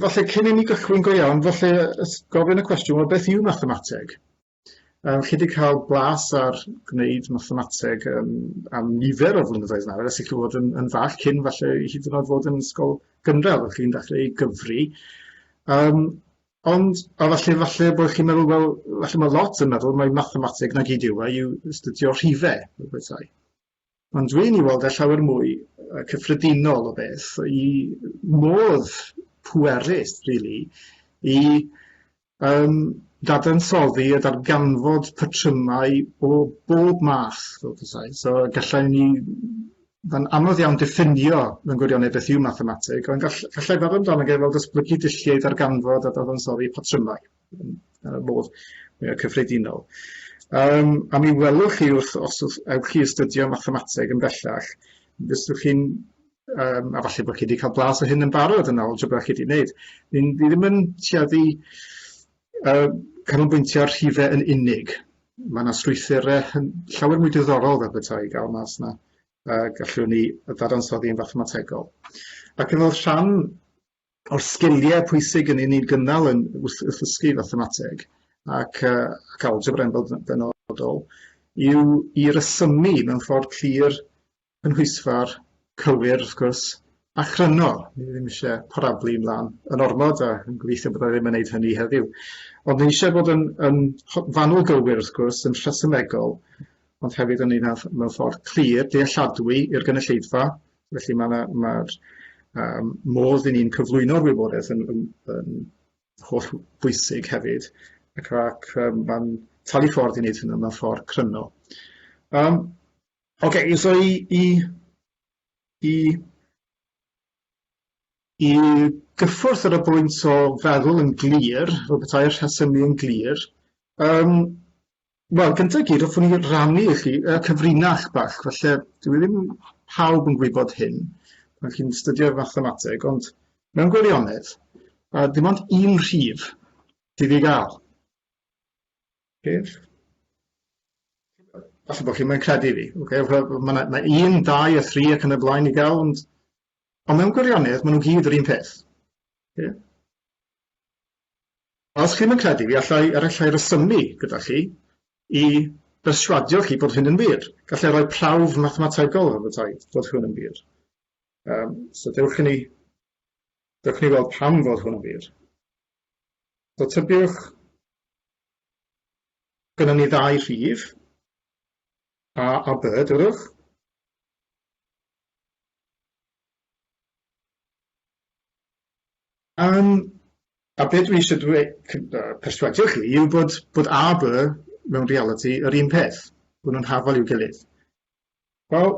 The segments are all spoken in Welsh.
falle cyn i ni gychwyn go iawn, falle gofyn y cwestiwn, wel, beth yw mathemateg? Um, chi wedi cael blas ar gwneud mathemateg um, am nifer o flynyddoedd nawr, ers i chi fod yn, yn fach, cyn falle i hyd yn oed fod yn ysgol gynradd, o'ch chi'n dechrau ei gyfri. Um, ond, a falle, falle bod chi'n meddwl, wel, falle mae lot yn meddwl, mae mathemateg na gyd yw, a e, yw studio rhifau, fel bethau. Ond dwi yn ei weld e llawer mwy yy cyffredinol o beth, i modd pwerus rili i yym dadansoddi a darganfod patrymau o bob math fel petai, so gallai ni... Mae'n anodd iawn diffinio mewn gwirionedd beth yw mathemateg, ond gall- gallai feddwl amdano fe fel datblygu dulliau i ddarganfod a dadansoddi patrymau. ar y modd mwyaf cyffredinol. Um, a mi welwch chi wrth os ewch chi astudio mathemateg yn bellach, fyswch chi'n um, a falle bod chi wedi cael blas o hyn yn barod yn ôl algebra chi wedi gwneud. Ni ddim yn tueddu uh, canolbwyntio ar rhifau yn unig. Mae yna strwythurau llawer mwy diddorol fel bethau i gael mas yna a gallwn ni ddadansoddi yn fathemategol. Ac yn fel rhan o'r sgiliau pwysig yn ni'n gynnal yn wrth, wrth ysgu fathemateg ac, uh, ac algebra yn benodol yw i resymu mewn ffordd clir, cynhwysfar, cywir wrth gwrs, a chryno. Ni ddim eisiau parablu ymlaen yn ormod a yn gobeithio bod e ddim yn gwneud hynny heddiw. Ond ni eisiau bod yn, yn fanwl gywir wrth gwrs, yn rhesymegol, ond hefyd yn un mewn ffordd clir, dealladwy i'r gynulleidfa, Felly mae yna mae'r um, modd i ni'n cyflwyno'r wybodaeth yn, yn, yn holl bwysig hefyd, ac, ac um, mae'n talu ffordd i wneud hynny mewn ffordd cryno. Um, Oce, okay, so i, i, i, i gyffwrdd ar y bwynt o feddwl yn glir, fel bethau'r rhesymu yn glir, um, Wel, gyntaf i gyd, hoffwn i rannu i chi uh, cyfrinach bach, felly dwi ddim pawb yn gwybod hyn pan chi'n studio'r fathemateg, ond mewn gwirionedd, uh, dim ond un rhif sydd i gael. Rhif? Falle bod chi'n mynd credu fi. Okay? Mae yna ma un, dau a thri ac yn y blaen i gael, ond, ond mewn gwirionedd, maen nhw gyd yr un peth. Okay? Os chi'm yn credu fi, allai er allai resymu gyda chi i berswadio chi bod hyn yn wir. Gallai roi prawf mathemategol ar fy taid fod hwn yn wir. Um, so dewch i ni, dewch i ni weld pam fod hwn yn wir. So tybiwch, gyda ni ddau rhif, A a B, dywedwch. Yym, a be' dwi isio dweu- cy- yy perswadio chi yw bod bod a by mewn realiti yr un peth, bo' nhw'n hafal i'w gilydd. Wel,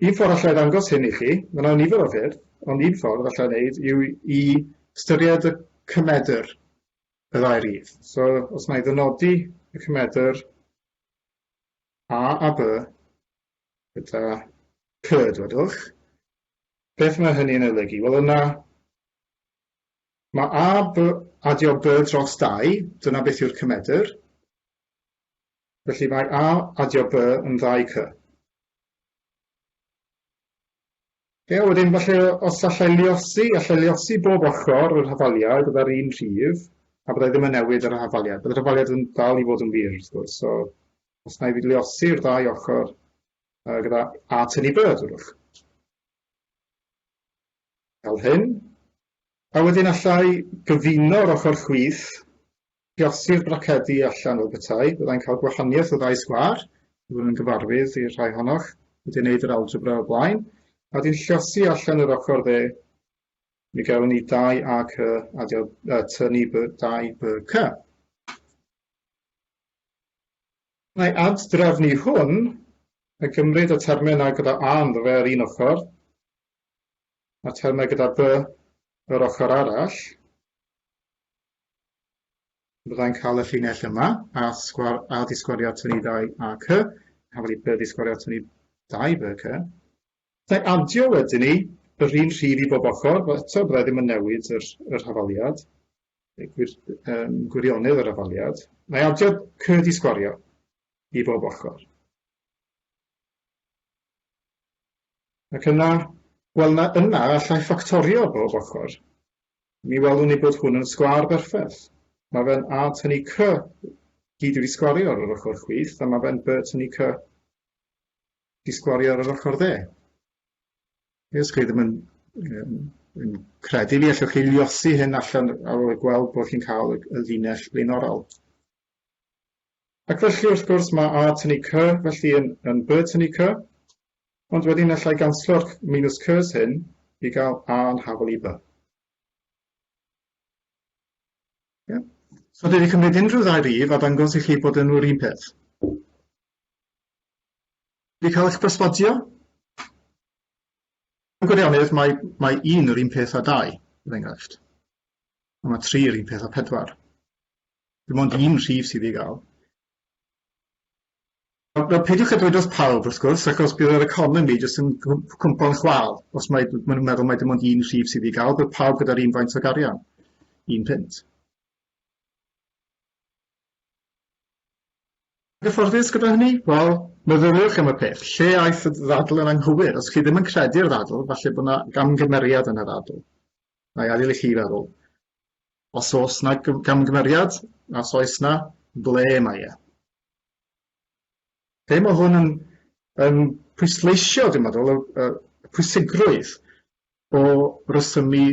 un ffor alla i ddangos hyn i chi, ma' 'na nifer o ffyrdd, ond un ffordd alla i wneud yw i ystyried y cymedr, y ddau rif. So, os na i ddynodi y cymedr a a by gyda cy, dwedwch, beth mae hynny'n ei olygu? Wel, yna Mae a, by, adio by dros dau, dyna beth yw'r cymedr. Felly mae a adio by yn ddau cy. Ie, yeah, wedyn falle os allai liosi, allai liosi bob ochr yr hafaliad gyda'r un rhif, a byddai ddim yn newid yr hafaliad. Byddai'r hafaliad yn dal i fod yn wir, wrth gwrs. So, os na i liosi yw'r ddau ochr uh, gyda a tynnu byrdd, wrwch. fel hyn, a wedyn allai gyfuno'r ochr chwith, llosi'r bracedi allan fel petai, byddai'n cael gwahaniaeth o ddau sgwâr, byddwn yn gyfarwydd i'r rhai ohonoch wedi gwneud yr algebra o'r blaen, a wedyn llosi allan yr ochr dde, mi gawn ni 2ac adio y tŷ ni 2bc. Mae ad-drefnu hwn yn cymryd y termynau gyda 'a' ynddo fe ar un ochr, a'r termau gyda 'b' yr ochr arall. Byddai'n cael y llinell yma, a, sgwar, a ddisgwariad tynnu 2 ac y, a wedi 'b' ddisgwariad tynnu 2 b ac y. Gallai adio wedyn ni yr un rhif i bob ochr, wel eto byddai ddim yn newid yr, yr hafaliad, gwir, um, gwirionedd yr hafaliad. Mae adio cyd i sgwario i bob ochr. Ac yna, wel na, yna allai ffactorio bob ochr. Mi welwn ni bod hwn yn sgwar berffaith. Mae fe'n a tynnu c gyd wedi sgwario ar yr ochr chwith, a mae fe'n b tynnu c Ti sgwario ar yr ochr dde. Ie, os chi ddim yn, yn, yn credu fi, allwch chi liosi hyn allan ar ôl gweld bod chi'n cael y, y linell blaenorol. Ac felly, wrth gwrs, mae A tynnu C felly yn, yn B tynnu C, ond wedyn allai ganslo'r minus Cs hyn i gael A yn hafol i B. Yeah. So dwi wedi cymryd unrhyw ddau rif a dangos i chi bod yn nhw'r un peth. Wedi cael eich perswadio? Mewn gwirionedd, mae, mae un yr un peth â dau, er enghraifft. A mae tri yr un peth â pedwar. Dim ond un rhif sydd i gael. Wel, peidiwch â dweud wrth pawb, wrth gwrs, achos bydd yr economi jyst yn cwmpo'n chwal. Os mae, maen nhw'n meddwl mae dim ond un rhif sydd i gael, bydd pawb gyda'r un faint o garian, un punt. Yn gyfforddus gyda hynny? Wel, meddyliwch am y peth, lle aeth y ddadl yn anghywir? Os chi ddim yn credu'r ddadl, falle bod 'na gamgymeriad yn y ddadl. Nai adael i chi feddwl. Os oes 'na gamgymeriad, os oes 'na, ble mae e? be mae hwn yn, yn pwysleisio, dwi'n meddwl, y, y pwysigrwydd o resymu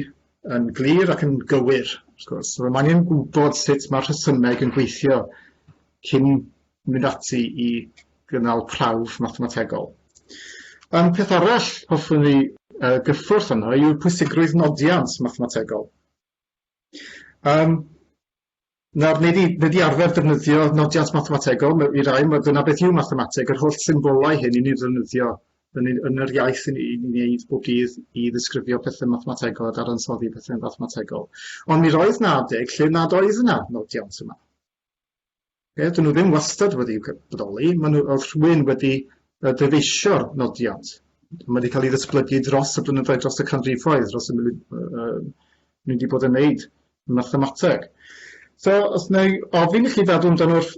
yn glir ac yn gywir, wrth gwrs. So, mae angen gwybod sut mae'r rhesymeg yn gweithio cyn mynd ati i gynnal prawf mathemategol. Um, peth arall hoffwn ni uh, gyffwrdd yno yw'r pwysigrwydd nodiant mathemategol. Um, Nawr, wnei di, wnei di arfer defnyddio nodiant mathemategol, ma- i rai, ma- dyna beth yw mathemateg, yr holl symbolau hyn i ni ddefnyddio yn, yn, yn yr iaith i ni i wneud bob dydd i ddisgrifio pethau mathemategol a dadansoddi pethau mathemategol. Ond mi roedd 'na adeg lle nad oedd yna nodiant yma. Ie, dyn nhw ddim wastad wedi bodoli, maen nhw oedd rhywun wedi uh, dyfeisio'r nodiad. Mae wedi cael ei ddysblygu dros y blynyddoedd, dros y canrifoedd, dros y munud, uh, ni wedi bod yn wneud mathemateg. So, os neu ofyn i chi feddwl amdano wrth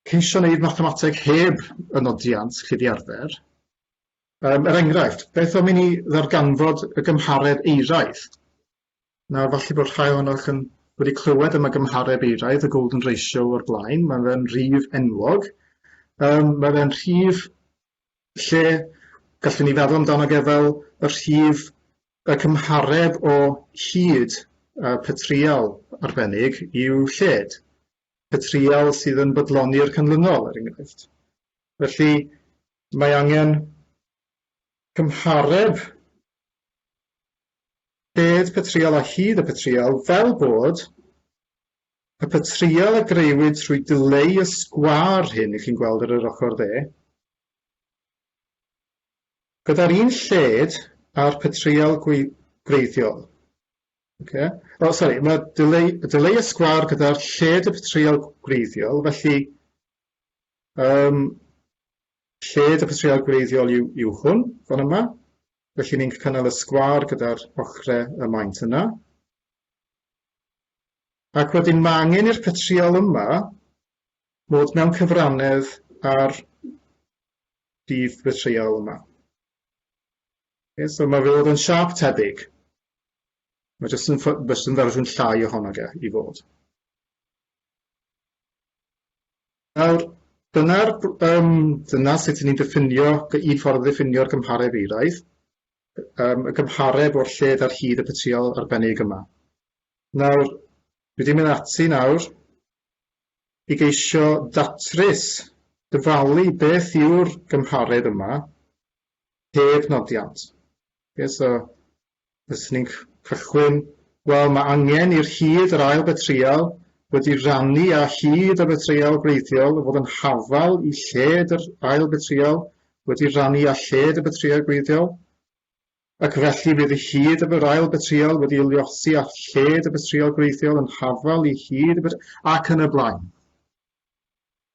ceisio wneud mathemateg heb y nodiant chi wedi arfer, um, er enghraifft, beth am i ni ddarganfod y gymharedd eiraidd? Nawr, falle bod rhai ohonoch yn wedi clywed am y gymhareb eiraidd, y golden ratio o'r blaen, mae fe'n rhif enwog. Um, mae fe'n rhif lle gallwn ni feddwl amdano ge fel y rhif y cymhareb o hyd uh, petrial arbennig i'w lled, petrial sydd yn bodloni'r canlynol, er enghraifft. Felly, mae angen cymhareb Bedd Patrial a Hud y Patrial, fel bod y patrial a greuwyd trwy dileu y sgwâr hyn i chi'n gweld ar yr ochr dde, gyda'r un lled â'r patrial gwreiddiol. Oce? O, sori, mae dileu, dileu y sgwâr gyda'r lled y patrial gwreiddiol, felly um, Lled y patrïaid gwreiddiol yw yw hwn, fan yma, felly ni'n cynnal y sgwâr gyda'r ochre y maent yna. Ac wedyn mae angen i'r patrïol yma fod mewn cyfrannedd ar rhif y patrïol yma. Okay, so mae fe fod yn siap tebyg. Mae jyst yn, jyst yn fersiwn llai ohono ge i fod. Nawr, dyna'r br- yym dyna sut ni'n diffinio g- un ffordd o ddiffinio'r gymhareb eiraidd, yym y gymhareb o'r lled ar hyd y petryal arbennig yma. Nawr, dwi wedi mynd ati nawr i geisio datrys, dyfalu beth yw'r gymhareb yma heb nodiant. Ie, so Fyswn i'n cychwyn, wel, mae angen i'r hud yr ail betryal wedi rannu â hud y betryal gwreiddiol fod yn hafal i lled yr ail betryal wedi rannu â lled y betryal gwreiddiol, ac felly bydd y hud y yr ail betryal wedi luosi â lled y betryal gwreiddiol yn hafal i hud y betryal, ac yn y blaen.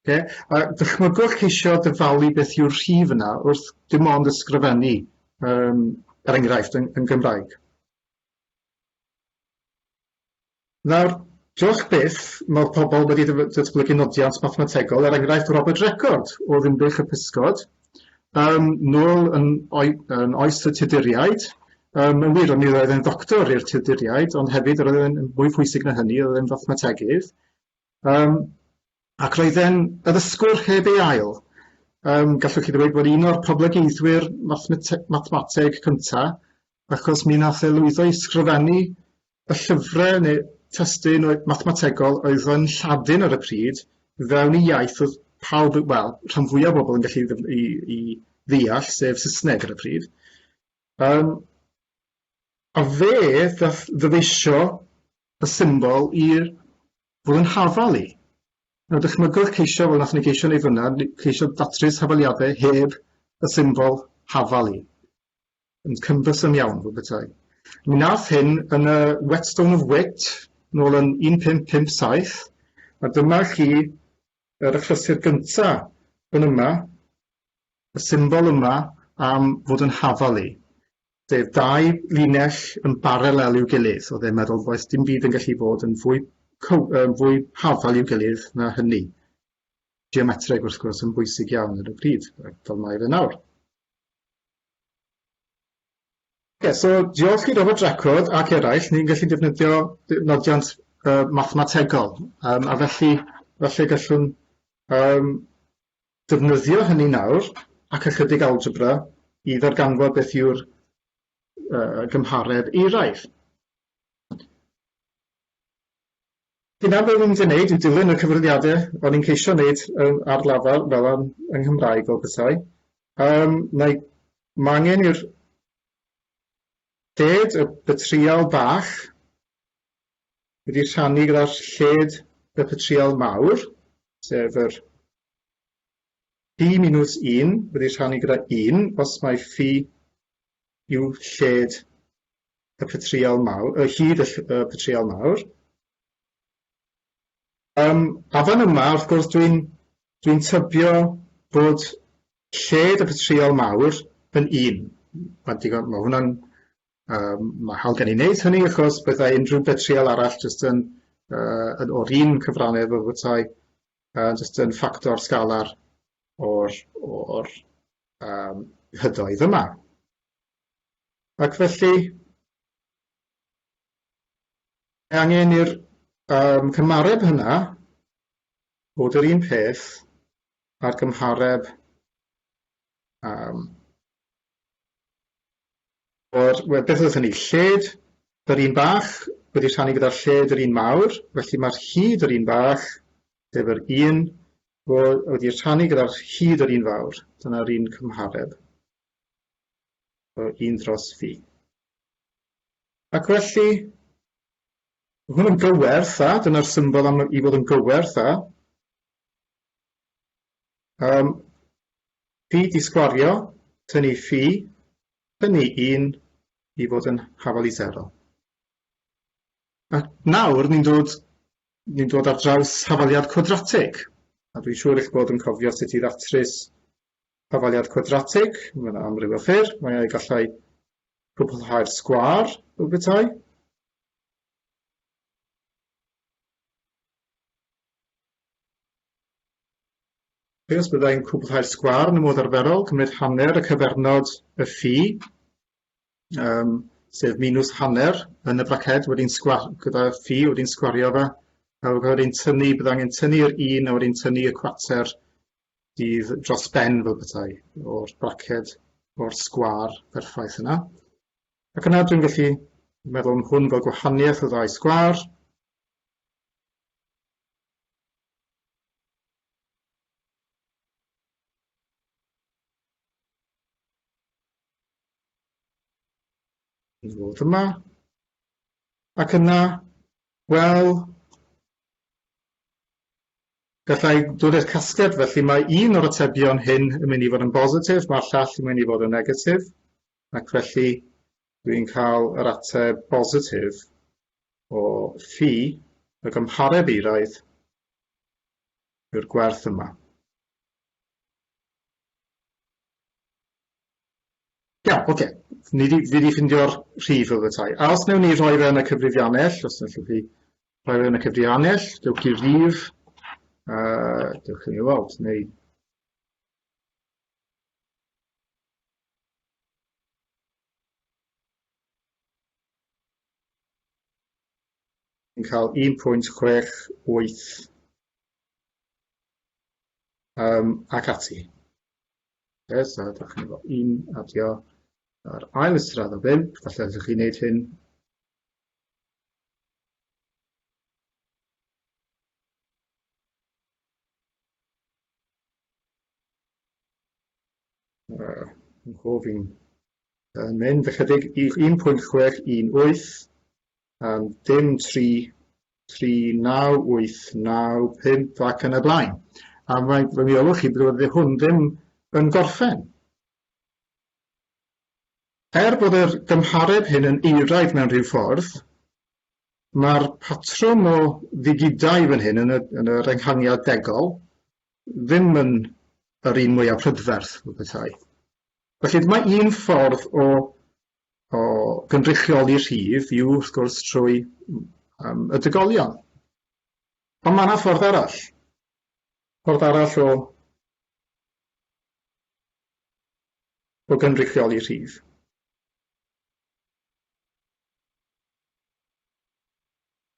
Ocê, a dychmygwch ceisio dyfalu beth yw'r rhif yna wrth dim ond ysgrifennu, um, er enghraifft, yn, yn Gymraeg. Nawr, diolch byth, mae pobl wedi datblygu nodiant mathemategol, er enghraifft Robert Record o Ddinbych y Pysgod, um, nôl yn, oi, yn oes y Tuduriaid, Um, yn wir, ond mi roedd e'n ddoctor i'r Tuduriaid, ond hefyd roedd e'n fwy pwysig na hynny, roedd e'n fathemategydd. Yym, ac roedd e'n addysgwr heb ei ail. Yym, gallwch chi ddweud bod un o'r poblogeiddwyr mathemate- mathemateg cynta, achos mi nath e lwyddo i sgrifennu y llyfre ne' testun oe- mathemategol oedd yn Lladin ar y pryd fewn i iaith o'dd pawb yy wel rhan fwya o bobol yn gallu ddyf- i i ddeall, sef Sysneg ar y pryd. Yym. A fe ddaeth ddyfeisio y symbol i fod yn hafal i. Nawr dychmygwch ceisio, fel wnaethon ni geisio wneud fyna, ceisio datrys hafaliadau heb y symbol hafal i. Yn cymdysym iawn, fel petai. Mi nath hyn yn y Whetstone of Wit, nôl yn 1557, a dyma chi yr achlysur gynta yn yma, y symbol yma am fod yn hafal i. sef dau linell yn baralel i'w gilydd, oedd e'n meddwl does dim byd yn gallu bod yn fwy, yn fwy hafal i'w gilydd na hynny. Geometreg wrth gwrs yn bwysig iawn ar y pryd, fel mae fe nawr. Okay, so diolch i Robert Dreckwrdd ac eraill, ni'n gallu defnyddio nodiant uh, mathemategol, um, a felly felly gallwn um, ddefnyddio hynny nawr ac ychydig algebra i ddarganfod beth yw'r uh, gymhareb eiraidd. Dyna beth ni'n gwneud i dilyn y cyfrifiadau o'n i'n ceisio wneud um, ar lafar fel am yng Nghymraeg fel bethau. Um, mae angen i'r ded y bytrial bach wedi rhannu gyda'r lled y petrial mawr, sef yr phi minus 1 wedi rhannu gyda 1 os mae phi yw lled y petrial mawr, y hyd y, y petrial mawr. Um, a fan yma, wrth gwrs, dwi'n dwi, tybio bod lled y petrial mawr yn un. Mae hwnna'n Yym mae'n hawdd gen i wneud hynny achos byddai unrhyw betrïal arall jyst yn yy yn o'r un cyfrannau efo petai yy jyst yn ffactor sgala'r o'r o'r yym hydoedd yma. Ac felly mae angen i'r yym cymareb hynna fod yr un peth a'r gymhareb yym Wel, beth oedd hynny? Lled yr un bach wedi rhannu gyda'r lled yr un mawr, felly mae'r hyd yr un bach, sef yr un, wedi rhannu gyda'r hyd yr un fawr. Dyna'r un cymhareb. So, un dros fi. Ac felly, mae hwn yn gywerth, a dyna'r symbol am i fod yn gywerth, a Yym, ffi di sgwario, tynnu ffi, tynnu un i fod yn hafal i sero. A nawr ni'n dod, ni'n dod ar draws hafaliad cwadratig, a dwi'n siŵr eich bod yn cofio sut i ddatrys hafaliad cwadratig, mae yna amryw o ffyrdd, mae ei gallai cwblhau'r sgwar, fel bethau. Be os byddai'n cwblhau'r sgwâr yn y modd arferol, cymryd hanner y cyfernod y ffi, um, sef minus hanner yn y braced wedi'n sgwar gyda ffi wedi'n sgwario fe, a wedi'n tynnu, bydd angen tynnu'r un a wedi'n tynnu y cwater dydd dros ben fel petai o'r braced o'r sgwâr berffaith yna. Ac yna dwi'n gallu meddwl am hwn fel gwahaniaeth o ddau sgwâr, i ddod yma ac yna wel gallai dod i'r casgliad felly mae un o'r atebion hyn yn mynd i fod yn bositif mae'r llall yn mynd i fod yn negatif ac felly dwi'n cael yr ateb bositif o ffi y gymhareb eiraidd yw'r gwerth yma. Ia, oce. Okay. Ni di, fi wedi ffindio'r rhif o fy tai. A os newn ni rhoi fe yn y cyfrifiannell, os newn chi rhoi fe yn y cyfrifiannell, dewch i'r rhif, uh, dewch i mi weld, neu yn cael 1.68 um, ac ati. Okay, so da chi'n gwybod un adio ar ail ystrad o 5, falle ydych chi'n gwneud hyn Uh, yn gofyn. Yn mynd ychydig i 1.618 am dim 3, 3, 9, 8, 9, 5 ac yn y blaen. A mae fy miolwch chi bod wedi hwn ddim yn gorffen. Er bod yr gymhareb hyn yn eiraidd mewn rhyw ffordd, mae'r patrwm o ddigidau fan hyn yn y, yn yr enghangiad degol ddim yn yr un mwyaf prydferth, petai. Felly dyma un ffordd o, o gynrychioli rhif yw wrth gwrs trwy um, y dygolion. Ond mae yna ffordd arall. Ffordd arall o, o gynrychioli rhif.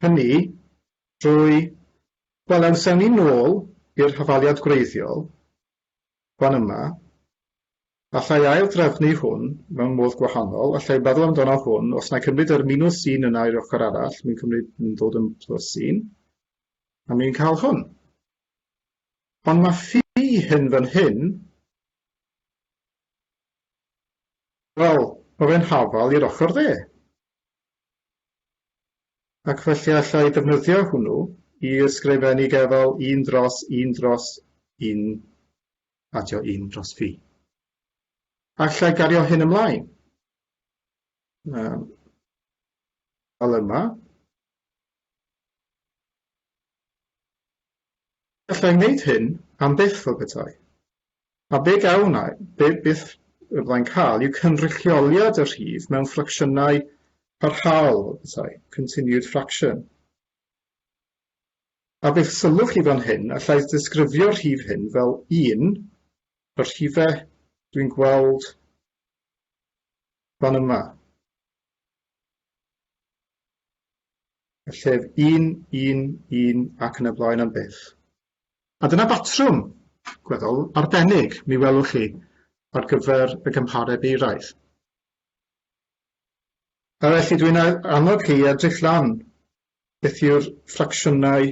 hynny drwy, wel os ewn ni nôl i'r hafaliad gwreiddiol fan yma, alla i ail-drefnu hwn mewn modd gwahanol, alla i feddwl amdano hwn, os na i cymryd yr minws un yna i'r ochr arall, mi'n cymryd, mi'n dod yn plus un, a mi'n cael hwn. Ond mae ffi hyn fan hyn, wel, mae fe'n hafal i'r ochr dde. Ac felly alla i ddefnyddio hwnnw i ysgrifennu gefel un dros un dros un adio un dros fi. A alla i gario hyn ymlaen um, fel yma. Gallai wneud hyn am byth o bethau. A be gawn ai, be bydd y Blaid cael yw cynrychioliad y rhif mewn ffracsiynau parhaol o bethau, continued fraction. A bydd sylw chi fan hyn, allai ddisgrifio'r rhif hyn fel un o'r rhifau dwi'n gweld fan yma. y llef un, un, un ac yn y blaen am byth. A dyna batrwm, gweddol, arbennig, mi welwch chi, ar gyfer y gymhareb eiraidd. A felly dwi'n annog chi i edrych lan beth yw'r ffracsiynau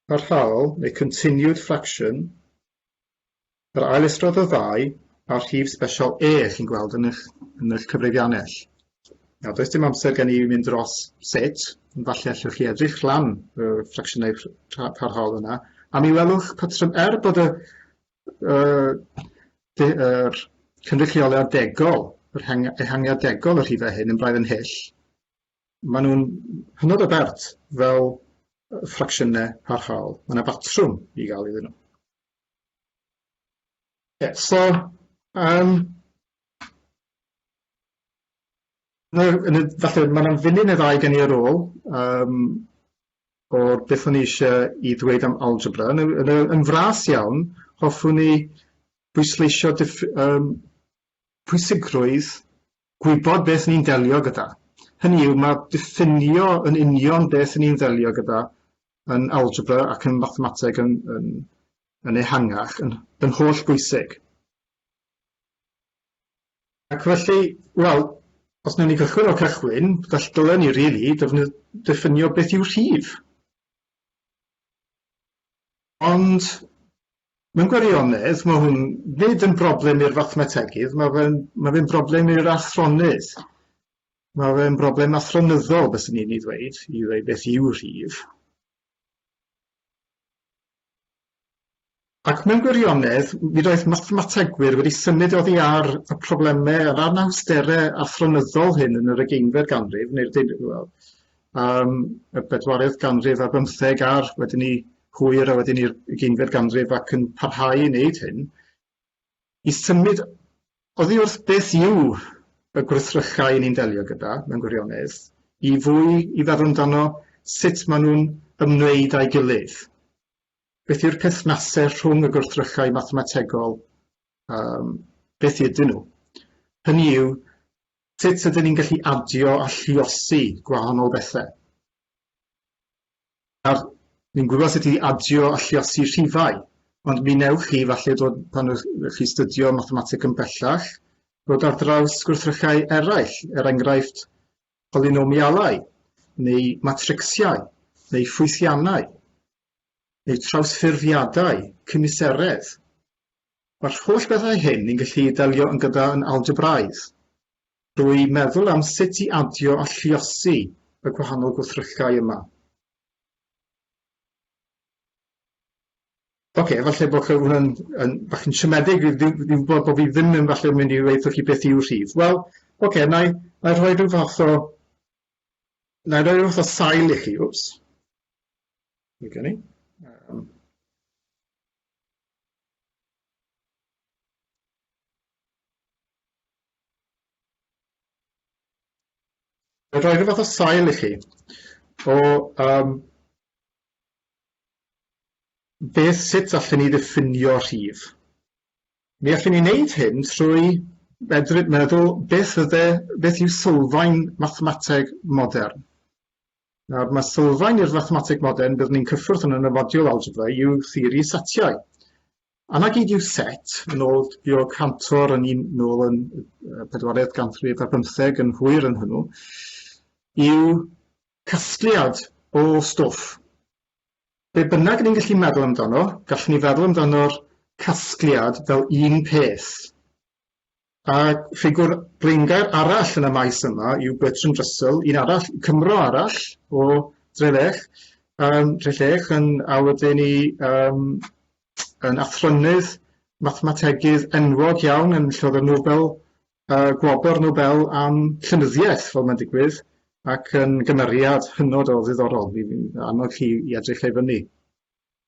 parhaol neu continued fraction Yr ailystrodd y ddau a'r rhif sbesial E chi'n gweld yn eich, yn eich cyfrifiannell. Nawr, does dim amser gen i mynd dros sut, ond falle allwch chi edrych lan y ffracsiynau parhaol yna, a mi welwch patrwm er bod y uh, de, er, cynrychioliad degol, yr heng, ehangiad degol y rhifau hyn yn braidd yn hyll, maen nhw'n hynod o bert fel ffracsiynau parhaol. Mae yna batrwm i gael iddyn nhw. So, yym, na, yn y, falle, mae yna funud neu ddau gen i ar ôl, um, o'r beth o'n i eisiau i ddweud am algebra. Yn, yn, yn fras iawn, hoffwn i bwysleisio um, pwysigrwydd gwybod beth ni'n delio gyda. Hynny yw, mae diffinio yn union beth ni'n ddelio gyda yn algebra ac yn mathemateg yn, yn, yn ehangach, yn, yn holl bwysig. Ac felly, wel, os newn ni gychwyn o'r cychwyn, gall dylen ni rili really ddefnyddio beth yw rhif. Ond mewn gwirionedd, mae hwn nid yn broblem i'r fathemategydd, mae fe'n ma fe broblem i'r athronydd. Mae fe'n broblem athronyddol, byswn i'n ei ddweud, i ddweud beth yw rhif. Ac mewn gwirionedd, mi roedd mathemategwyr wedi symud oddi ar y problemau a'r anawsterau athronyddol hyn yn yr ugeinfed ganrif, neu'r dyn, well, um, y bedwaredd ganrif ar bymtheg a'r wedyn ni hwyr a wedyn ni'r ugeinfed ganrif ac yn parhau i wneud hyn. I symud oddi wrth beth yw y gwrthrychau ni'n delio gyda, mewn gwirionedd, i fwy i feddwl amdano sut maen nhw'n ymwneud â'i gilydd. Beth yw'r perthnasedd rhwng y gwrthrychau mathemategol, um, beth ydyn nhw? Hynny yw, sut ydyn ni'n gallu adio a lluosi gwahanol bethau? Nawr, ni'n gwybod sut i adio a lluosi rhifau, ond mi wnewch chi falle dod, pan ych chi stydio mathemateg yn bellach, dod ar draws gwrthrychau eraill, er enghraifft polynomialau, neu matricsiau, neu ffwythiannau, neu trawsffurfiadau cymuseredd. Mae'r holl bethau hyn ni'n gallu delio yn gyda yn algebraidd. drwy meddwl am sut i adio a lluosi y gwahanol gwrthrychau yma. Ocê, falle bod hwn yn, yn bach yn siomedig, fi'n fi, fi gwybod bod fi ddim yn falle mynd i weithio chi beth yw'r rhif. Wel, ocê, okay, na i, na i rhoi rhyw fath o... Na i rhoi rhyw fath o sail i chi, wps. Fe gen i. Um, Ga i roi rhyw fath o sail i chi o yym beth, sut allwn ni ddiffinio rhif? Mi allwn ni wneud hyn trwy medru meddwl beth fydde, beth yw sylfaen mathemateg modern. Nawr, mae sylfaen i'r fathemateg modern, byddwn ni'n cyffwrdd hwn yn y modiwl algebra, yw theori setiau. A 'na gyd yw set, yn ôl Georg Cantor yn un nôl yn y pedwaredd ganrif ar bymtheg yn hwyr yn hwnnw, yw casgliad o stwff. Be bynnag ni'n gallu meddwl amdano, gallwn ni feddwl amdano'r casgliad fel un peth, A ffigwr blaengar arall yn y maes yma yw Bertrand Russell, un arall, Cymro arall o Drelech, um, Trellech, yn, a wedyn ni um, yn athronydd mathemategydd enwog iawn yn llod y Nobel, uh, gwobr Nobel am llynyddiaeth, fel mae'n digwydd, ac yn gymeriad hynod o ddiddorol, fi'n annog chi i edrych ei fyny.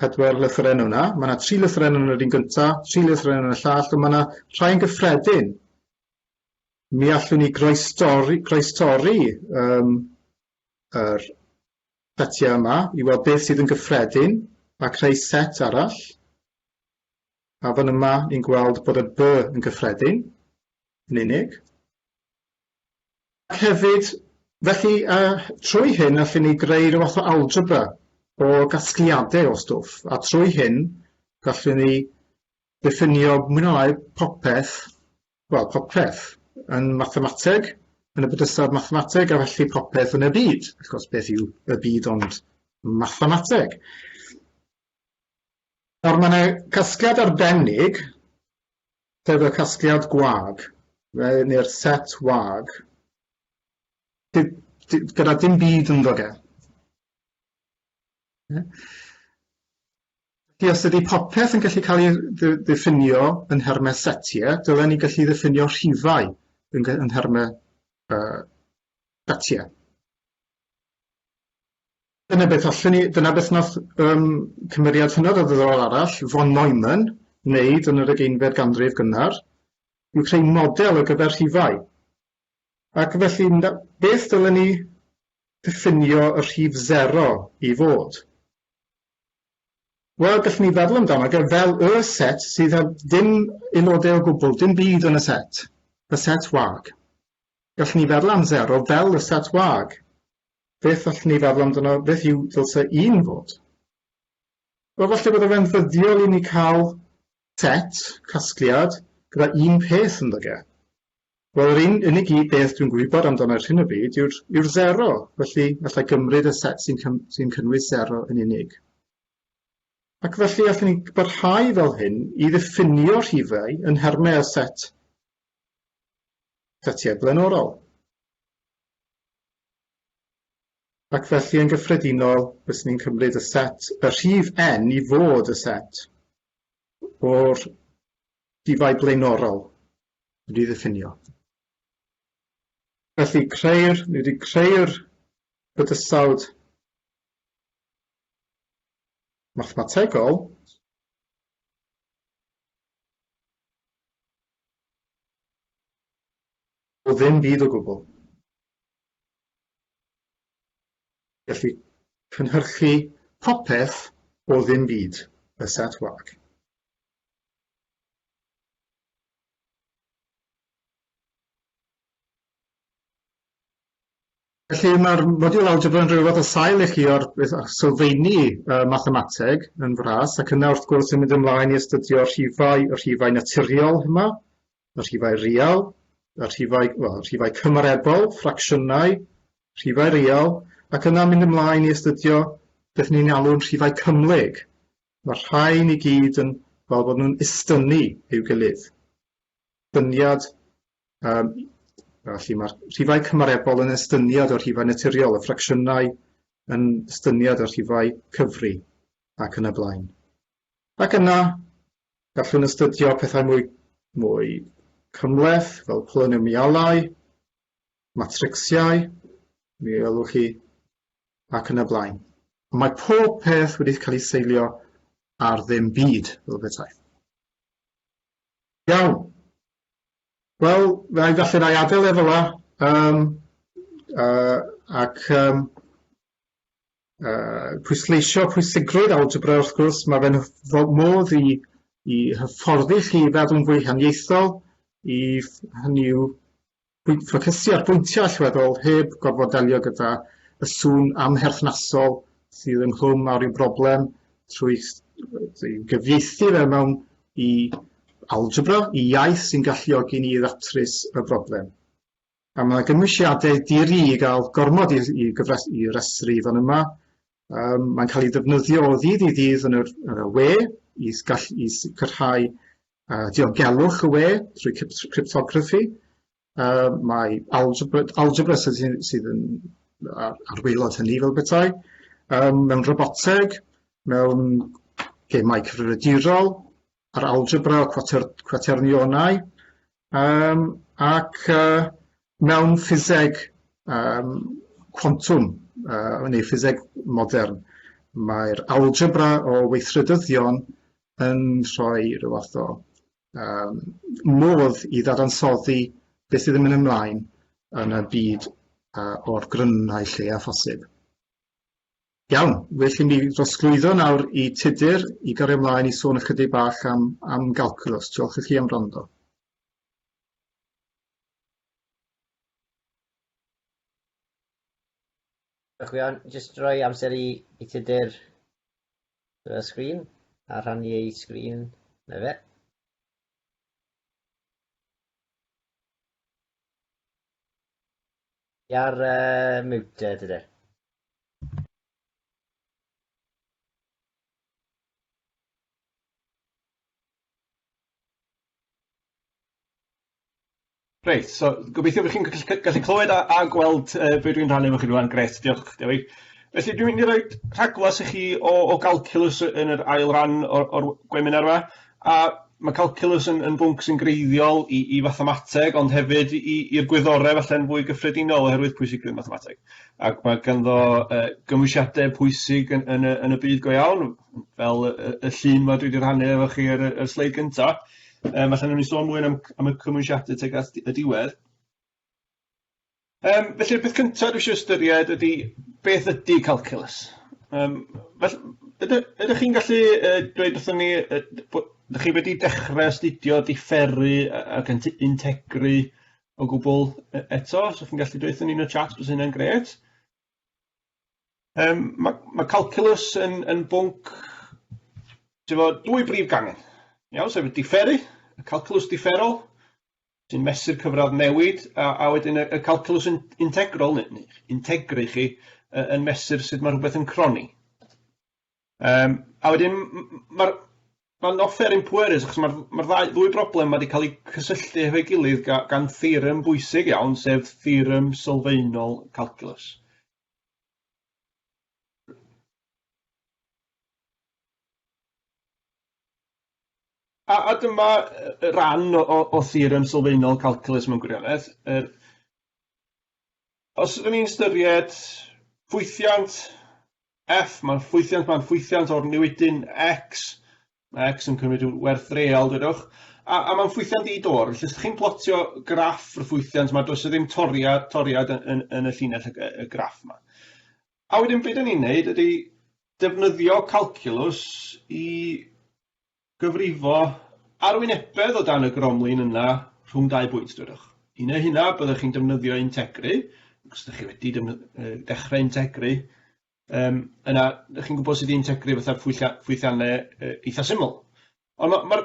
pedwar lythyren yna, mae yna tri lythyren yn yr un gyntaf, tri lythyren yn y llall, ond mae yna rhai yn gyffredin. Mi allwn ni groestori, groestori um, yr setiau yma i weld beth sydd yn gyffredin a creu set arall. A fan yma ni'n gweld bod y by yn gyffredin yn unig. Ac hefyd, felly, trwy hyn allwn ni greu rhyw fath o algebra o gasgliadau o stwff, a trwy hyn gallwn ni ddiffinio mwy neu lai popeth, wel, popeth yn mathemateg, yn y bydysawd mathemateg, a felly popeth yn y byd. Wrth gwrs, beth yw y byd ond mathemateg? Nawr, mae yna casgliad arbennig Sef y casgliad gwag, neu'r set wag, gyda dim byd ynddo fe. Felly, os ydy popeth yn gallu cael ei ddiffinio yn nhermau setiau, dylen ni gallu ddiffinio rhifau yn nhermau setiau. Dyna beth allwn ni, dyna beth wnaeth um, cymeriad hynod o ddiddorol arall, von Neumann, wneud yn yr ugeinfed ganrif gynnar, yw creu model ar gyfer rhifau. Ac felly, beth dylen ni ddiffinio y rhif 0 i fod? Wel, gallwn ni feddwl amdano e fel y set sydd â dim aelodau o gwbl, dim byd yn y set, y set wag. Gallwn ni feddwl am 0 fel y set wag, Beth allwn ni feddwl amdano, beth yw ddylse un fod? Wel, falle bydde fe'n ddyddiol i ni cael set, casgliad, gyda un peth ynddo ge. Wel, yr un unig i beth dwi'n gwybod amdano ar hyn o bryd yw'r yw sero, felly allai gymryd y set sy'n sy cynnwys sero yn unig. Ac felly allwn ni barhau fel hyn i ddiffinio rhifau yn nhermau o set setiau blaenorol. Ac felly yn gyffredinol fyswn i'n cymryd y set, y rhif n i fod y set o'r rhifau blaenorol wedi'i ddiffinio. Felly creu'r, ni wedi creu'r bydysawd mathemategol O ddim byd o gwbl. Felly, cynhyrchu popeth o ddim byd, y set wag. Felly, mae'r modiwl algebra yn rhywbeth o sail i chi o'r beth â'ch sylfeini uh, mathemateg yn fras, ac yna wrth gwrs yn mynd ymlaen i astudio'r rhifau, y rhifau naturiol yma, y rhifau real, y rhifau, well, y rhifau cymarebol, ffracsiynau, rhifau real, ac yna mynd ymlaen i astudio beth ni'n alw'n rhifau cymhlyg. Mae'r rhain i gyd yn fel bod nhw'n istynnu i'w gilydd. Dyniad, um, felly mae'r rhifau cymarebol yn estyniad o'r rhifau naturiol, y ffracsiynau yn estyniad o'r rhifau cyfri ac yn y blaen. Ac yna, gallwn astudio pethau mwy mwy cymhleth, fel polynemialau, matricsiau, mi welwch chi, ac yn y blaen. Ond mae pob peth wedi cael ei seilio ar ddim byd, fel petai. Iawn. Wel, fe ai falle na i adael e fel yna, um, uh, ac um, yy pwysleisio pwysigrwydd algebra wrth gwrs, mae fe'n hyf- modd i i hyfforddi chi i feddwl fwy haniaethol, i hynny yw pwy- ffocysu ar bwyntiau allweddol heb gorfod delio gyda y sŵn amherthnasol sydd ynghlwm â rhyw broblem trwy s- trwy gyfieithu fe mewn i algebra, i iaith sy'n galluogi ni i ddatrys y broblem. Mae 'na gynwysiadau di-ri i gael gormod i i gyfres- i resru fan yma. Yym mae'n cael ei ddefnyddio o ddydd i ddydd yn yr yn y we i s- gall- i sicrhau yy diogelwch y we trwy cyps- cryptograffi. Yy mae algebra algebra sy sy sydd yn ar ar waelod hynny fel petai. Yym mewn roboteg, mewn gemau cyfrifiadurol, a'r algebra o cwater, cwaternionau, um, ac uh, mewn ffiseg um, quantum, uh, neu ffiseg modern, mae'r algebra o weithredyddion yn rhoi rhyw fath o um, modd i ddadansoddi beth sydd yn mynd ymlaen yn y byd uh, o'r grynnau lle a phosib. Iawn, felly mi drosglwyddo nawr i Tudur i gario mlaen i sôn ychydig bach am am galcwlws. Diolch i chi am wrando. Diolch Iwan. Jyst rhoi amser i i Tudur y sgrin a rhannu ei sgrin. Na fe. Ti ar yy mute Tudur. Reit, so gobeithio bod chi'n gallu clywed a gweld be dwi'n rhannu efo chi rŵan. Grêt, diolch Dewi. Felly dwi'n mynd i roi rhagflas i chi o o galcalws yn yr ail ran o'r o'r gweminar 'ma. A ma' calculus yn yn bwnc sy'n greiddiol i i fathemateg ond hefyd i i'r gwyddorau falle'n fwy gyffredinol oherwydd pwysigrwydd mathemateg ac ma' ganddo yy gymwysiadau pwysig yn yn y yn y byd go iawn fel y y y llun 'ma dwi 'di rhannu efo chi ar y y sleid gynta yym falle newn ni sôn mwy am am y cymwysiadau tuag at y diwedd. Yym felly'r peth cynta dwi isio ystyried ydi beth ydi calculus? Yym fell- yda- ydach chi'n gallu yy dweud wrthon ni yy bo- dach chi wedi dechre astudio diferu yy ac yn t- integru o gwbwl e- eto os o'ch chi'n gallu deutho ni yn y chat bysa hynna'n grêt. Yym ma' ma' calculus yn yn bwnc t'mod dwy brif gangen iawn sef y diferu, y calculus diferol, sy'n mesur cyfradd newid, a a wedyn y y calculus yn integrol neu neu integru chi yy yn mesur sut ma' rhwbeth yn croni. Yym a wedyn m- m- m- ma'r ma'n not fair in poor areas achos ma'r ma'r ddau ddwy broblem ma' 'di ca'l 'u cysylltu hefo'i gilydd ga- gan theorem bwysig iawn sef theorem sylfaenol calculus. A a dyma yy ran o o o theorem sylfaenol calcwlus mewn gwirionedd, yr os ry'n ni'n ystyried ffwythiant F, ma'n ffwythiant ma'n ffwythiant o'r newidyn X, ma' X yn cymryd ryw werth real dwedwch, a a ma'n ffwythiant i dor, felly os 'dych chi'n plotio graff y ffwythiant 'ma does 'na ddim toriad toriad yn yn yn y llinell y g- y graff 'ma. A wedyn be 'dan ni'n neud ydi defnyddio calculus i gyfrifo arwynebedd o dan y gromlin yna rhwng dau bwynt, dwedwch. I neu' hynna, byddwch chi'n defnyddio integri, ac os 'dach chi wedi defny- dechre integri, yym yna 'dach chi'n gwybod sut i integri fatha phwyllia- ffwythianne eitha' syml. Ond ma' ma'r...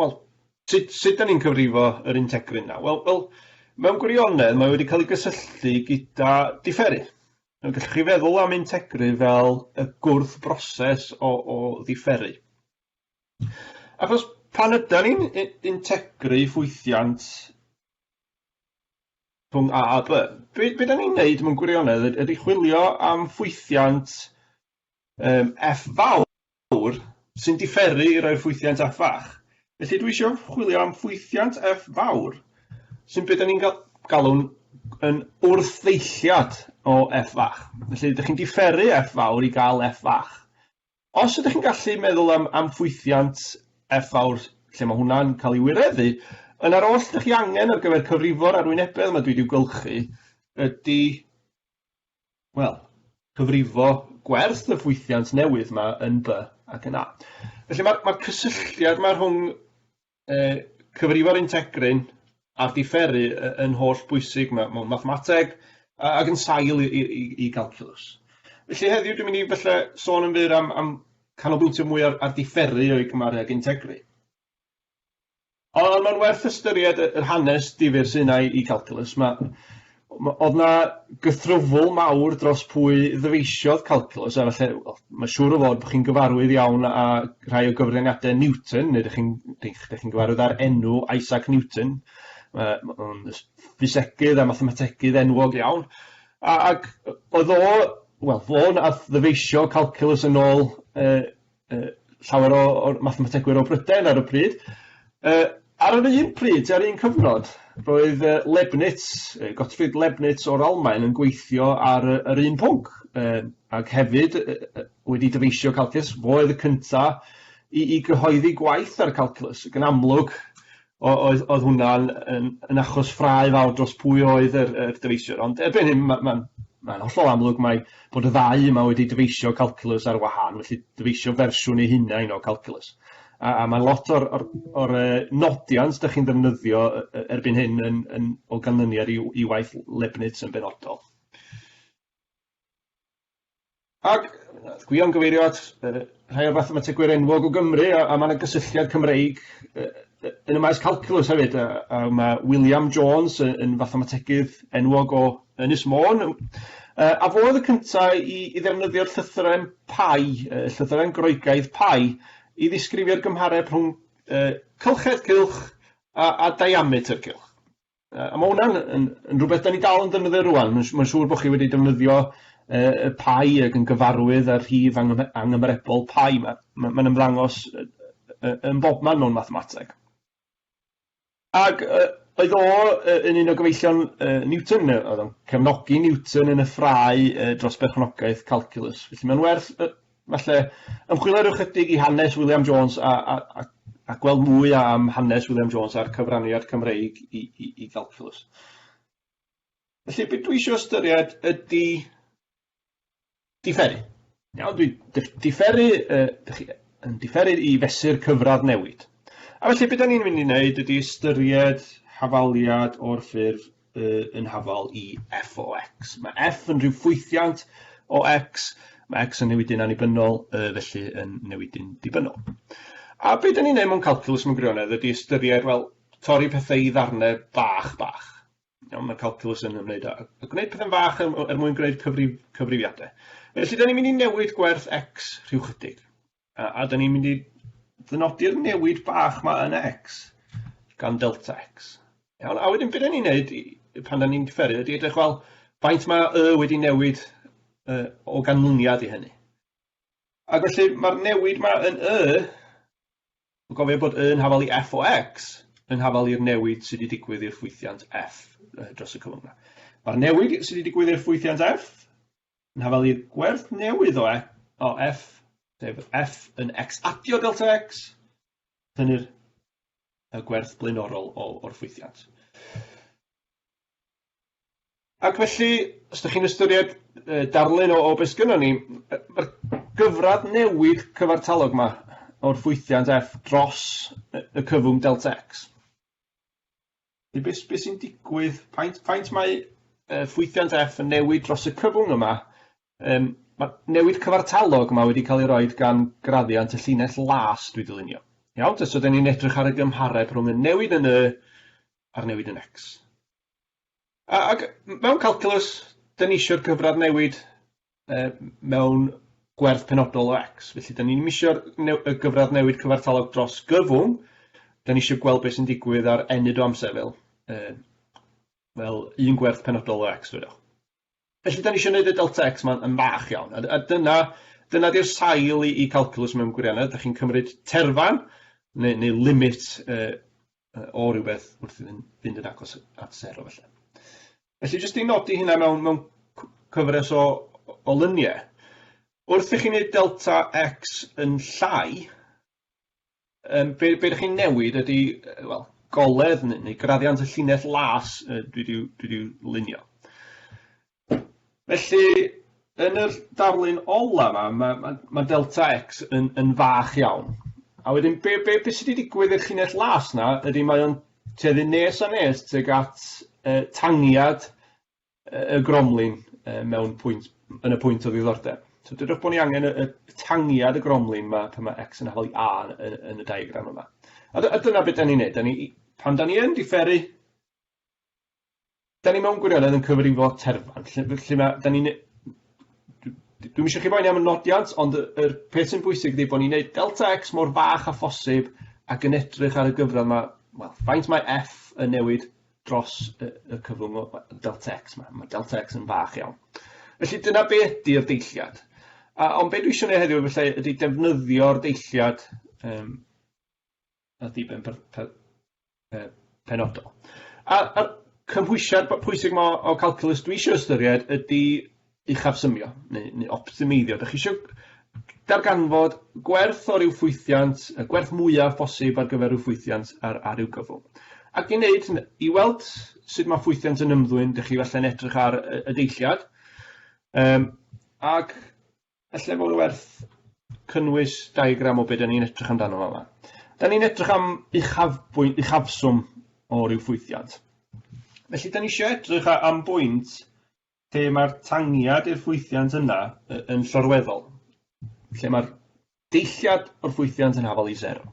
Wel, sut sut 'dan ni'n cyfrifo yr integrin 'na? Wel wel, mewn gwirionedd mae wedi cael ei gysylltu gyda diferu. Nawr gellwch chi feddwl am integri fel y gwrthbroses o o ddiferu. Achos pan ydan ni'n i- integru ffwythiant rhwng A a By, be' be' 'dan ni'n neud mewn gwirionedd yd- ydi chwilio am ffwythiant yym F fawr. fawr sy'n diferu i roi'r ffwythiant F fach, felly dwi isio chwilio am ffwythiant F fawr, sy'n be da ni'n galw'n yn wrthddeilliad o F fach. Felly, ydych chi'n diferu F fawr i gael F fach. Os ydych chi'n gallu meddwl am, am ffwythiant F fawr lle mae hwnna'n cael ei wireddu, yna'r oll ydych chi angen ar gyfer cyfrifo'r arwynebedd yma dwi wedi gylchu ydy wel, cyfrifo gwerth y ffwythiant newydd yma yn by ac yn a. Felly mae'r ma cysylltiad yma rhwng uh, cyfrifo'r integryn a'r diferu yn holl bwysig mewn mathemateg ac yn sail i, i, i, i galculus. Felly heddiw dwi'n mynd i felly sôn yn fyr am, am canolbwyntio mwy ar, ar diferu o'i gymaru ag integru. Ond ond ma'n werth ystyried y yr hanes difyr sy 'na i i Calculus. Ma' ma' o'dd 'na gythrwfl mawr dros pwy ddyfeisiodd Calculus a falle wel ma' siŵr o fod bo' chi'n gyfarwydd iawn â rhai o gyfraniade Newton neu 'dych chi'n 'dych 'dych chi'n gyfarwydd â'r enw Isaac Newton yy ma' o'n ys- ffisegydd a mathemategydd enwog iawn a ac yy o'dd o wel fo nath ddyfeisio Calculus yn ôl yy uh, llawer o, o mathemategwyr o Brydain ar y pryd. Uh, ar yr un pryd, ar un cyfnod, roedd uh, Leibniz, uh, Gottfried Leibniz o'r Almain yn gweithio ar uh, yr un pwnc, uh, ac hefyd uh, wedi dyfeisio calcus, fo oedd y cyntaf i, i gyhoeddi gwaith ar y calculus. Gan amlwg, o- oedd oedd hwnna'n yn yn achos ffrae fawr dros pwy oedd yr yr dyfeisiwr ond erbyn hyn ma' ma'n ma'n hollol amlwg mai bod y ddau yma wedi dyfeisio calculus ar wahân felly dyfeisio fersiwn eu hunain o calculus a a ma' lot o'r o'r o'r yy nodiant 'dach chi'n ddefnyddio yy yy erbyn hyn yn yn o ganlyniad i w- i waith Lebnitz yn benodol. Ac wnaeth Gwion gyfeirio at yy rhai o'r fathemategwyr enwog o Gymru a a ma' 'na gysylltiad Cymreig yy yy yn y maes calculus hefyd a a ma' William Jones yy yn fathemategydd enwog o Ynys Môn yym yy a fo oedd y cynta i i ddefnyddio'r llythyren pi yy llythyren Groegaidd pi i ddisgrifio'r gymhareb rhwng yy cylchred cylch a a diameter cylch. Yy a ma' hwnna'n yn yn rwbeth 'dan ni dal yn defnyddio rŵan, ma'n s- ma'n siŵr bo' chi wedi defnyddio yy y pie ag yn gyfarwydd â'r rhif angyme- anghymerebol pie 'ma, ma' ma'n ymddangos yy yy yn bobman mewn mathemateg. Ag yy oedd o yy yn un o gyfeillion yy Newton, yy o'dd o'n cefnogi Newton yn y ffrae yy dros berchnogaeth calculus, felly ma'n werth yy Felly, ymchwilio rhyw chydig i hanes William Jones a, a, a, a gweld mwy am hanes William Jones a'r cyfraniad Cymreig i, i, i galculus. Felly, beth dwi eisiau ystyried ydy diferu. Iawn, dwi diferu, uh, yn diferu i fesur cyfradd newid. A felly, beth da ni'n mynd i wneud ydy ystyried hafaliad o'r ffurf uh, yn hafal i f o x. Mae f yn rhyw ffwythiant o x, mae x yn newidu'n annibynnol, uh, felly yn newidu'n dibynnol. A beth da ni'n neud mewn calculus mewn gwirionedd ydy ystyried, wel, torri pethau i ddarnau bach bach. Iawn, mae calculus yn ymwneud â gwneud pethau'n fach er, er mwyn gwneud cyfrif, cyfrifiadau. Felly, da ni'n mynd i newid gwerth x rhyw chydig. A, a da ni'n mynd i ddynodi'r newid bach ma yn X gan delta X. Iawn, a wedyn beth ni'n neud pan da ni'n cyferu ydy edrych fel faint mae y wedi newid uh, o ganlyniad i hynny. Ac felly mae'r newid ma yn y, yn gofio bod yn hafal i f o x, yn hafal i'r newid sydd wedi digwydd i'r ffwythiant f dros y cyflwng yna. Mae'r newid sydd wedi digwydd i'r ffwythiant f Yn hafal i'r gwerth newydd o o f, sef f yn x adio delta x, tynnu'r y gwerth blaenorol o, o'r ffwythiant. Ac felly, os ydych chi'n ystyried darlun o, o beth sgynnon ni, mae'r gyfradd newid cyfartalog yma o'r ffwythiant f dros y cyfwng delta x. Be, be, be sy'n digwydd, faint, faint mae uh, ffwythiant F yn newid dros y cyfwng yma? Um, mae newid cyfartalog yma wedi cael ei roi gan graddiant y llinell las dwi dylunio. Iawn, so dyn ni'n edrych ar y gymhareb rhwng y newid yn y a'r newid yn X. Ac mewn calculus, dyn ni eisiau'r cyfradd newid yy mewn gwerth penodol o X. Felly, da ni'n misio'r y gyfradd newid cyfartalog dros gyfwng, da ni eisiau gweld beth sy'n digwydd ar enyd o amser fel, yy, fel un gwerth penodol o X, dwedwch. Felly, da ni eisiau gwneud y delta X ma'n yn fach iawn, a, a dyna, dyna di'r sail i, i calculus mewn gwirionedd, da chi'n cymryd terfan, neu, neu limit, yy, o rywbeth wrth iddyn fynd yn agos at sero felly. Felly jyst i nodi hynna mewn, mewn cyfres o, o lyniau. Wrth i chi wneud delta x yn llai, um, be, be ydych chi'n newid ydy, well, goledd neu, neu graddiant y llinell las dwi wedi lunio. Felly, yn yr darlun ola 'ma, ma' ma' ma' delta X yn yn fach iawn, a wedyn be' be' be' sy' 'di digwydd i'r llinell las 'na ydi mae o'n tueddu nes a nes tuag at yy tangiad yy y gromlin yy mewn pwynt yn y pwynt o ddiddordeb. So dwedwch bo' ni angen y y y tangiad y gromlin 'ma pan ma' X yn holi A yy yn y diagram yma. A dy- a dyna be' 'dan ni'n neud, 'dan ni i- pan 'dan ni yn diferu 'dan ni mewn gwirionedd yn cyfrifo terfan lle f- lle ma' 'dan ni'n ne- dw- dw- dwi'm isio chi boeni am y nodiant ond y yr peth sy'n bwysig ydi bo' ni'n neud delta ecs mor fach â phosib ac yn edrych ar y gyfradd 'ma wel faint mae eff yn newid dros yy y cyfrwng o yy delta ecs 'ma ma' delta ecs yn fach iawn felly dyna be' ydi'r deilliad a ond be' dwi isio neu' heddiw efallai ydi defnyddio'r deilliad yym na diben per- per- yy penodol. A a cymhwysiad b- pwysig ma' o calculus dwi isio ystyried ydi uchafsymio neu neu optimeiddio. 'Dach chi isio darganfod gwerth o ryw ffwythiant, y gwerth mwyaf bosib ar gyfer ryw ffwythiant ar ar ryw gyfwng. Ac i wneud hyn- i weld sut ma' ffwythiant yn ymddwyn, 'dych chi falle'n edrych ar y y deilliad yym ac Felly mae'n werth cynnwys diagram o beth ni'n edrych amdano yma. Da ni'n edrych am uchafbwynt, uchafswm o ryw ffwythiant. Felly, da ni eisiau edrych am bwynt lle mae'r tangiad i'r ffwythiant yna yn llorweddol, lle mae'r deilliad o'r ffwythiant yn hafal i sero.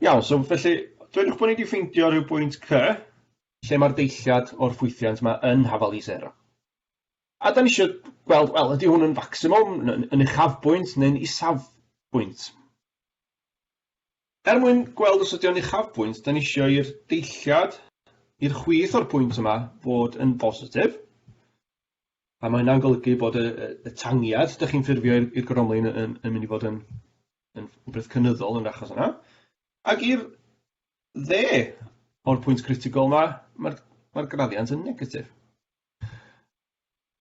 Iawn, so felly, dwedwch bod ni wedi ffeindio rhyw bwynt C lle mae'r deilliad o'r ffwythiant yma yn hafal i sero. A 'dan ni isio gweld, wel, ydy hwn yn facsimwm, n- n- yn uchafbwynt neu'n isafbwynt? Er mwyn gweld os ydy o'n uchafbwynt, 'dan ni isio i'r deilliad, i'r chwith o'r pwynt yma fod yn bositif, a mae hynna'n golygu bod y y y tangiad 'dach chi'n ffurfio i'r i'r gorymlaen y- yn yn mynd i fod yn yn rhwbeth cynyddol yn yr achos yna, ac i'r dde o'r pwynt critigol 'ma, ma'r ma'r graddiant yn negatif.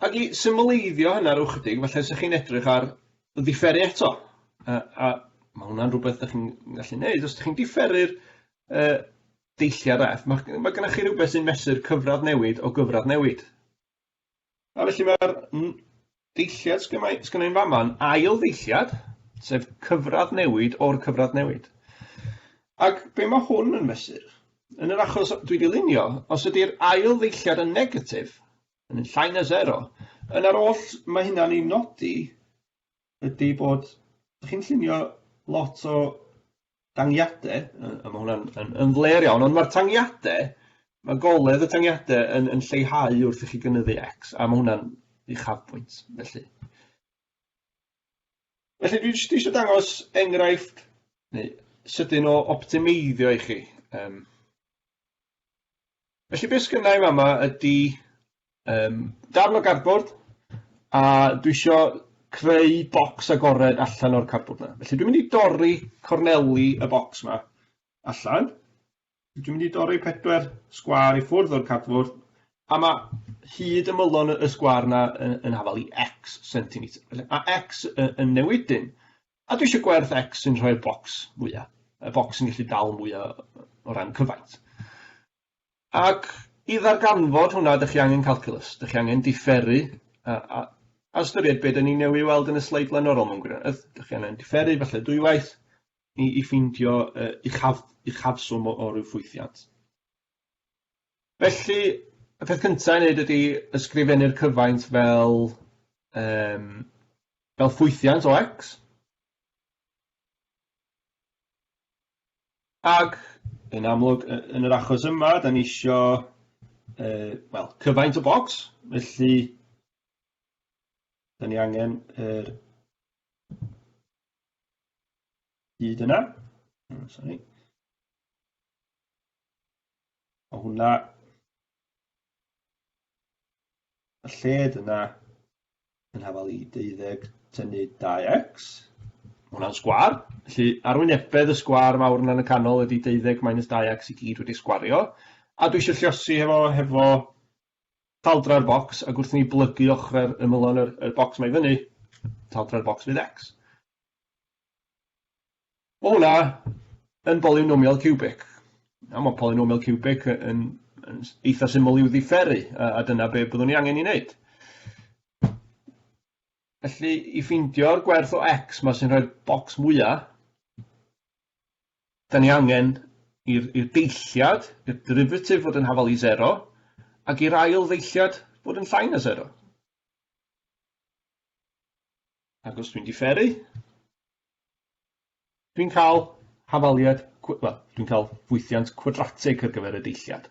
Ac i symleiddio hynna rhyw chydig, felly os ydych chi'n edrych ar ddifferu eto, a a ma' hwnna'n rhywbeth dach chi'n gallu neud, os ydych chi'n diferu'r yy deilliad Eff, ma' ma' gynnoch chi rywbeth sy'n mesur cyfradd newid o gyfradd newid, a felly ma'r n- Deilliad sy gynna' i sy gynna' i'n fama yn ail ddeilliad, sef cyfradd newid o'r cyfradd newid. Ac be' ma' hwn yn fesur? Yn yr achos dwi 'di lunio, os ydi'r ail ddeilliad yn negatif, yn yn llai na sero, yna'r oll ma' hynna'n ei nodi ydi bod chi'n llunio lot o tangiade, yy a ma' hwnna'n yn yn flêr iawn, ond ma'r tangiade, ma' goledd y tangiade yn yn lleihau wrth i chi gynyddu X, a ma' hwnna'n uchafbwynt, felly. Felly dwi jyst isio dangos enghraifft neu sydyn o optimeiddio i chi. Yym. Felly beth sgynna i fama ydy um, darn o gardbord a dwi isio creu bocs agored allan o'r cardbord yna. Felly dwi'n mynd i dorri corneli y bocs yma allan. Dwi'n mynd i dorri pedwar sgwar i ffwrdd o'r cardbord a mae hyd ymylon y sgwar yna yn, yn hafal i x centimetr. A x yn newid dyn. A dwi eisiau gwerth X sy'n rhoi'r bocs fwya, y bocs sy'n gallu dal mwya o ran cyfaint. Ac i ddarganfod hwnna, ydych chi angen calculus, ydych chi angen diferu a, a, a ystyried beth ni newydd weld yn y sleid blaenorol mewn gwirionedd. Ydych chi angen diferu falle dwywaith i, i ffeindio uh, uchaf, uchafswm o, o ryw ffwythiant. Felly, y peth cynta i neud ydi ysgrifennu'r cyfaint fel yym fel ffwythiant o X. Ac yn amlwg y- yn yr achos yma, 'dan ni isio yy wel cyfaint o bocs, felly 'dan ni angen yr hyd yna. O sori. Ma' hwnna y lled yna yn hafal i deuddeg tynnu dau ecs. Ma' hwnna'n sgwâr. Felly arwynebedd y sgwâr fawr yna yn y canol ydy deuddeg minus dau ecs i gyd wedi sgwario. A dwi eisiau lliosi hefo hefo taldra'r bocs ac wrth i ni blygu ochrau'r ymylon yr, yr bocs mae i fyny, taldra'r bocs fydd ecs. O na, yn bolynomial ciwbig. A mae polynomial ciwbig yn, yn eitha syml i'w ddifferu, a, a dyna be byddwn ni angen ei wneud. Felly, i ffeindio'r gwerth o x mae sy'n rhoi'r bocs mwyaf, da ni angen i'r deilliad, i'r derivatif fod yn hafal i 0, ac i'r ail ddeilliad fod yn llai na 0. Ac os dwi'n diferu, Dwi'n cael hafaliad cw- wel, dwi'n cael ffwythiant cwadratig ar gyfer y deilliad.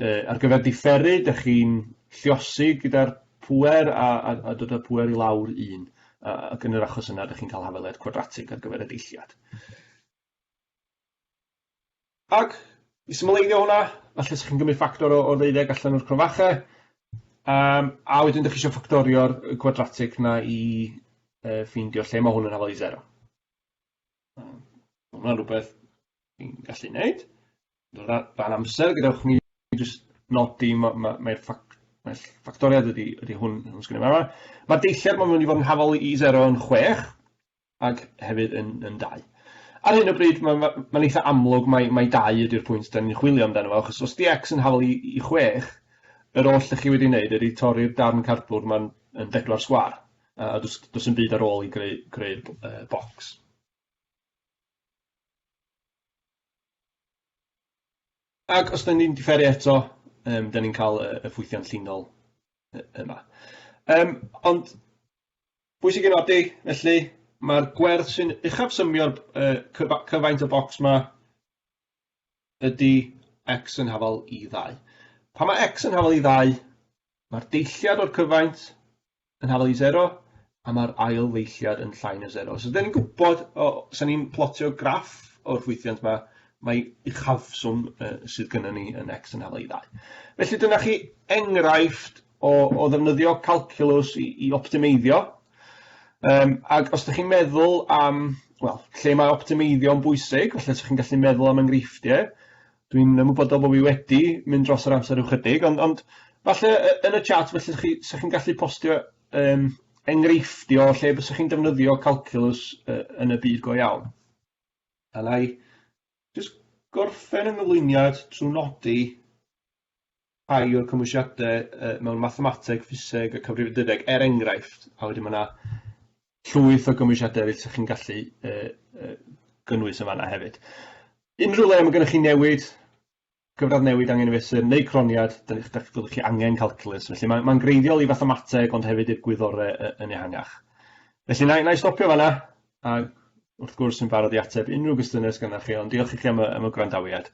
Yy ar gyfer diferu, dych chi'n lliosi gyda'r pŵer a a a dod â'r pŵer i lawr un, a ac yn yr achos yna dych chi'n cael hafaliad cwadratig ar gyfer y deilliad. Ac, i symleiddio hwnna, falle 'sa chi'n cymryd ffactor o o ddeuddeg allan o'r crofache, yym a wedyn 'dych chi isio ffactorio'r y cwadratig 'na i yy ffeindio lle ma' hwn yn hafal i sero. Yym ma' hwnna'n rwbeth ni'n gallu neud. Ran amser gadewch i mi jyst nodi ma' ma' mae'r ffac- mae'r ll- ffactoriad ydi ydi hwn hwn sgynno ni fama. Ma'r deillad ma' mynd i fod yn hafal i sero yn chwech. ac hefyd yn, yn dau. Ar hyn o bryd, mae'n ma, ma eitha amlwg mai, mai dau ydy'r pwynt da ni'n chwilio amdano fo, achos os di X yn hafal i, i chwech, yr oll ydych chi wedi wneud ydy torri'r darn cardbwrdd mae'n yn bedwar sgwar, a dos, dos yn byd ar ôl i greu, greu uh, bocs. Ac os da ni'n differu eto, um, da ni'n cael y, y ffwythiant llinol yma. Um, ond Bwysig ei nodi, felly, mae'r gwerth sy'n uchafsymio'r cyfaint y bocs 'ma ydy x yn hafal i ddau. Pan mae x yn hafal i ddau, mae'r deilliad o'r cyfaint yn hafal i sero, a mae'r ail ddeilliad yn llai na sero. So, da ni'n gwybod, os da ni'n plotio graff o'r ffwythiant 'ma, mae uchafswm sydd gynnon ni yn x yn hafal i ddau. Felly, dyna chi enghraifft o, o ddefnyddio calculus i, i optimeiddio. Um, ac os ydych chi'n meddwl am, wel, lle mae optimeiddio yn bwysig, felly ydych chi'n gallu meddwl am enghreifftiau. Dwi'n ymwybodol bod fi wedi mynd dros yr amser ychydig, ond, ond falle yn y chat, felly ydych chi, chi'n gallu postio um, enghreifftio lle bys chi'n defnyddio calculus uh, yn y byd go iawn. A na i just gorffen yng nghyflwyniad trwy nodi rhai o'r cymwysiadau yy mewn mathemateg, ffiseg a cyfrifiadureg er enghraifft, a wedyn ma' 'na llwyth o gymwysiadau eryll 'sa chi'n gallu yy yy gynnwys yn fanna hefyd. Unrhyw le ma' gynnoch chi newid, gyfradd newid angen ei fesur neu croniad, 'dan ni'ch 'dach chi fyddwch chi angen calculus, felly ma' ma'n greiddiol i fathemateg ond hefyd i'r gwyddore yy yn ehangach. Felly na i na i stopio fanna a wrth gwrs yn barod i ateb unrhyw gwestiyne sy gynnoch chi ond diolch i chi am y am y gwrandawiad.